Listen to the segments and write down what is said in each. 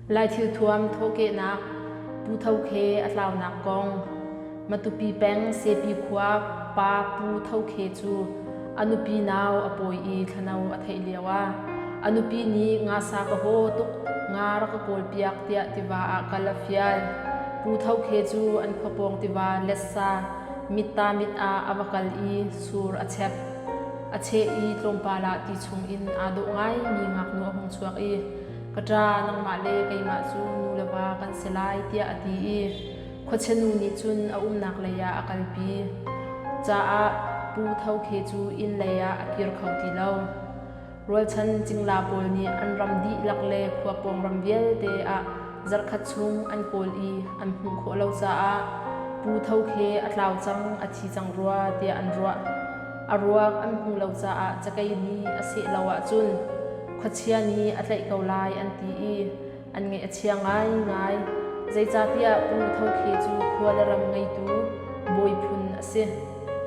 Lai thilthuam thawhkehnak, Pu Tho Khe a tlaunak kong. Matupi peng Sepi khua pa Pu Tho Khe cu a nupi nau a pawi i thlano a theih lio ah a nupi nih ngasa ka haw tuk, nga rak ka kawlpiak tiah tiva ah kal a fial. Pu Tho Khe cu an khuapawng tiva letsa mitta mit ah a va kal i sur a chep. A cheh i tlawmpal ah ti chungin aa dawh ngaimi ngaknu a hung chuak i ka ṭa nangmah le keimah cu nu le va kan si lai tiah a ti i khuachenu nih cun a umnak lei ah a kalpi caah Pu Tho Khe cu inn lei ah a kir kho ti lo. Rualchan cingla pawl nih an ram dihlak le khua pawng ram vialte ah zarhkhat chung an kawl i an hmuh khawh lo caah Pu Tho Khe a tlau cang a thi cang rua tiah an ruah. A ruak an hmuh lo caah cakei nih a seh lo ahcun khuachia nih a tlaih ko lai an ti i an ngaih a chia ngaingai. Zeicahtiah Pu Tho Khe cu khua le ram ngeitu bawi phun a si.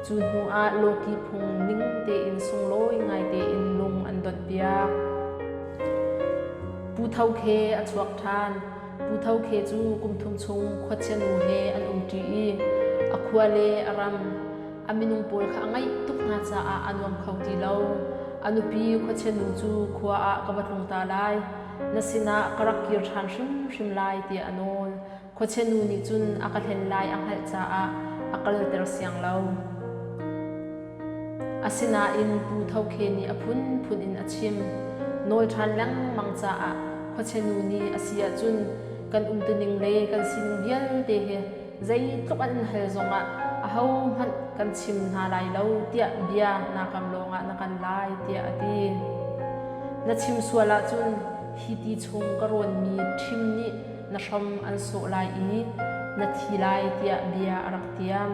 Cu hnuah Lawki phung ning tein sunglawi ngai tein lung an donhpiak. Pu Tho Khe a chuak ṭhan. Pu Tho Khe cu kum thum chung khuachianu he an umṭi i a khua le a ram, a minung pawl kha a ngaih tuk hna caah a nuam kho ti lo. A nupi khuachianu cu khua ah ka va tlung ta lai. na sinah ka rak kir ṭhan hrimhrim lai tiah a nawl. Khuachianu nih cun a ka hlen lai a hngalh caah a kalter siang lo. Asinain Pu Tho Khe nih a phunphun in a chim. Nawl ṭhan lengmang caah khuachianu nih a si ahcun kan umtuning le kan sining vialte he Zeitluk an in hal zongah ahohmanh kan chim hna lai lo tiah bia na kam lawngah na kan lai tiah a ti. Na chim sual ahcun hi ti chung ka rawnmi thim nih na hrom an sawh lai i na thi lai tiah bia a rak tiam.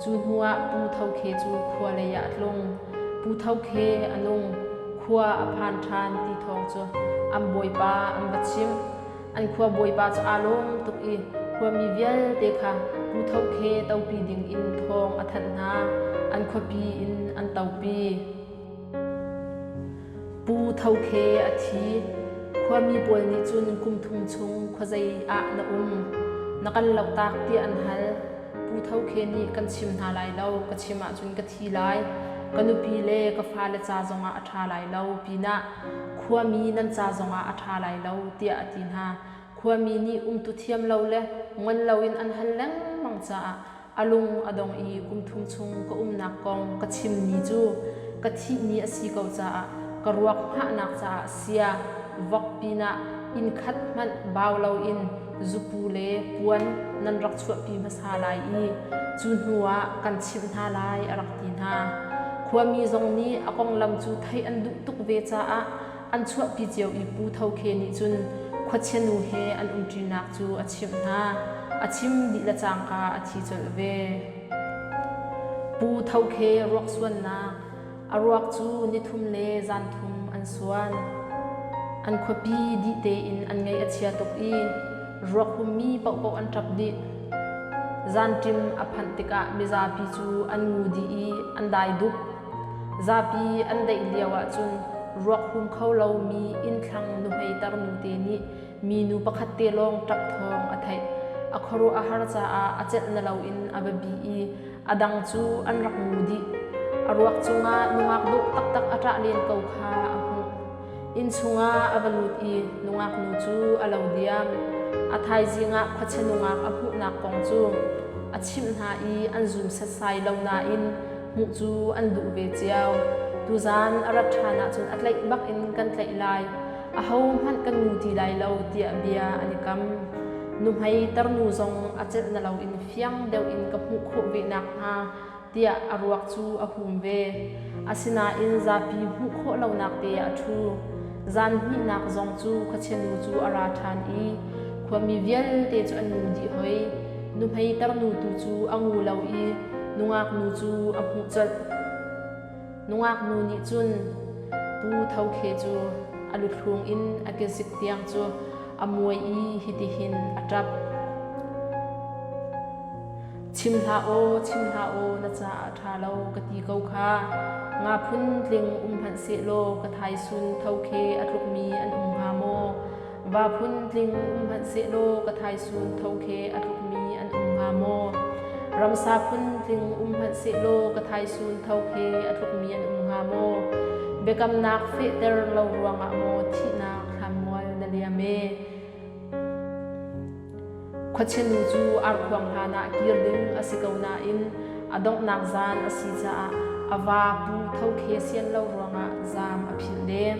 Cu hnuah Pu Tho Khe cu khua leiah a tlung. Pu Tho Khe a nung. Khua a phan ṭhan ti thawng cu an bawipa an va chimh. An khua bawipa cu aa lawm tuk i khuami vialte kha Pu Tho Khe topi ding in thawng a thanh hna. An khuapi in an topi. Pu Tho Khe a thi. Khuami pawl nih cun kum thum chung khuazei ah na um? Na kan loktak tiah an hal. Pu Tho Khe nih kan chim hna lai lo, ka chim ahcun ka thi lai. Ka nupi le ka fale ca zongah a ṭha lai lo pinah Khuami nan ca zongah a ṭha lai lo tiah a ti hna. Khuami nih umtu thiam lo le ngol loin an hal lengmang caah a lung a dong i kum thum chung ka umnak kong ka chimmi cu ka thihmi a si ko caah ka ruak hngahnak caah sia vok pinah inn khat hmanh bau loin zupu le puan nan rak chuahpi hmasa lai i cu hnuah kan chimh hna lai a rak ti hna. Khuami zong nih a konglam cu theih an duh tuk ve caah an chuahpi cio i Pu Tho Khe nih cun khuachianu he an umṭinak cu a chimh hna. A chim dih le cangka a thi colh ve. Pu Tho Khe ruaksuannak A ruak cu nithum le zanthum an suan. An khuapi dih tein an ngei a chia tuk i ruakpummi paohpaoh an ṭap dih. Zanṭim a phanh tikah mizapi cu an ngu dih i an dai dup. Zapi an deih lio ahcun ruak hum kho lomi innthlang nuhmeiter nute nih minu pakhat te lawng ṭap thawng a theih. A khuaruah a har caah a celh na loin a va bih i A dang cu an rak ngu dih. A ruak cungah nungak dawh taktak a ṭah len ko kha a hmuh. Inn chungah a va lut i nungaknu cu a lo diam. A thaizing ah khuachia nungak a hmuhnak kong cu a chimh hna i an zum setsai lo nain hmuh cu an duh ve cio. Tuzan a rat ṭhan ahcun a tlaih bak in kan tlaih lai. ahohmanh kan ngu ti lai lo tiah bia an i kam. Nuhmei tarnu zong a celh na loin fiang deuh in ka hmuh khawh ve nakhnga tiah a ruak cu a hum ve. Asinain zapi hmuh khawh lonak te a ṭhu. Zan hnihnak zong cu khuachenu cu a ra ṭhan i khuami vialte cu an ngu dih hoi. Nuhmei tarnu tu cu a ngu lo i nungaknu cu a hmuh colh. Nungak nu nih cun Pu Tho Khe cu a luthlung in a kezik tiang cu a muai i hitihin a ṭap. Chim hlah aw, chim hlah aw, na caah ṭha lo ka ti ko kha. Nga phun tling um hmanh sehlaw ka thaisun tho khe a tlukmi an um hnga maw? Va phun tling hmanhsehlaw ka thaisun tho khe a tlukmi an um hnga maw? Ramsa phun tling um hmanhsehlaw ka thaisun tho khe a tlukmi an um hnga maw? Biakamnak fehter lo ruangah maw thihnak thlanmual na liam e? Khuachinu cu ar khuang hlanah kir ding a si ko nain a donghnak zan a si caah a va pu tho khe sian lo ruangah zaam a philh lem.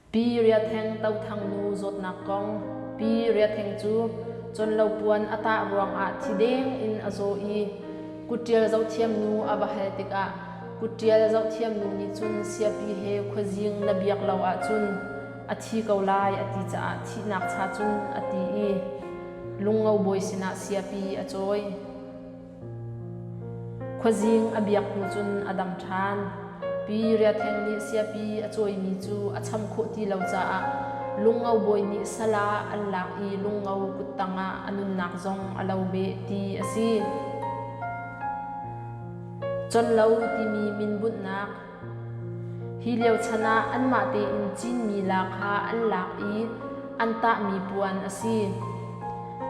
Pi Ria Theng To Thang nu zawtnak kong Pi Ria Theng cu Conlopuan a tah ruangah thi deng in a zaw i kutṭial zohthiam nu a va hal tikah kutṭial zohthiam nu nih cun siapi he khuazing na biak lo ahcun a thi ko lai a ti caah thihnak cha cun a ti i lungo bawi sinah siapi a cawi. Khuazing a biak hnu cun a dang ṭhan. Pi Ria Theng nih siapi a cawimi cu a cham khawh ti lo caah Lungo bawi nih sal ah an lak i Lungo kuttang ah a nunnak zong a lo beh ti a si. Conlo timi min bunhnak Hi lio chan ah anmah tein Chinmi la kha an lak i an tahmi puan a si.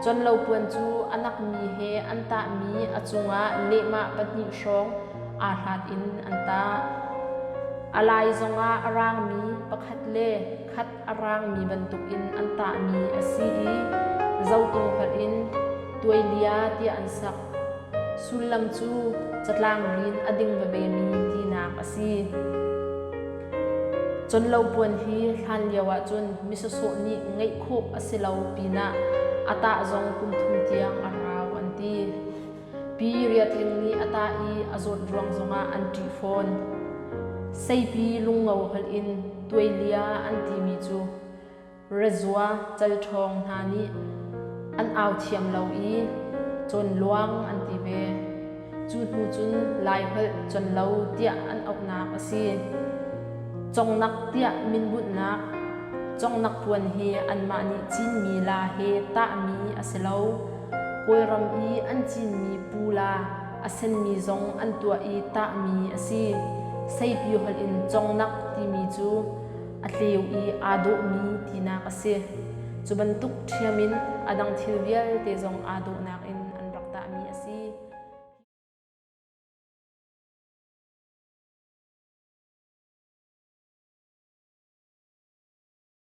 Conlo puan cu a nakmi he an tahmi a cungah lehmah pahnih hrawng aa hlat in an tah. A lai zongah a raangmi pakhat le khat a raangmi bantukin an tahmi a si i zohtu hngalh in tuailia tiah an sak. Sullam cu catlang rin a ding vevemi tinak a si. Conlopuan hi hlan lio ahcun misasawh nih ngeih khawh a si lo pinah a tah zong kum thum tiang a rau an ti. Pi Riat Ling nih a tah i a zawt ruang zongah an ṭih fawn. Seipi lungo holh in tuailia an timi cu rezua calṭhawng hna nih an au thiam lo i cawnluang an ti ve. Cu hnu cun Lai holh con lo tiah an auhnak a si. Congnak tiah minbunhnak, congnak puan hi anmah nih Chinmi la he tahmi a si lo. Kawlram i an cinmi pula a senmi zong an tuah i tahmi a si. Seipi holh in congnak timi cu a tleu i aa dawhmi tinak a si. Cu bantuk ṭhiam in a dang thil vialte zong aa dawhnak in an rak tahmi a si.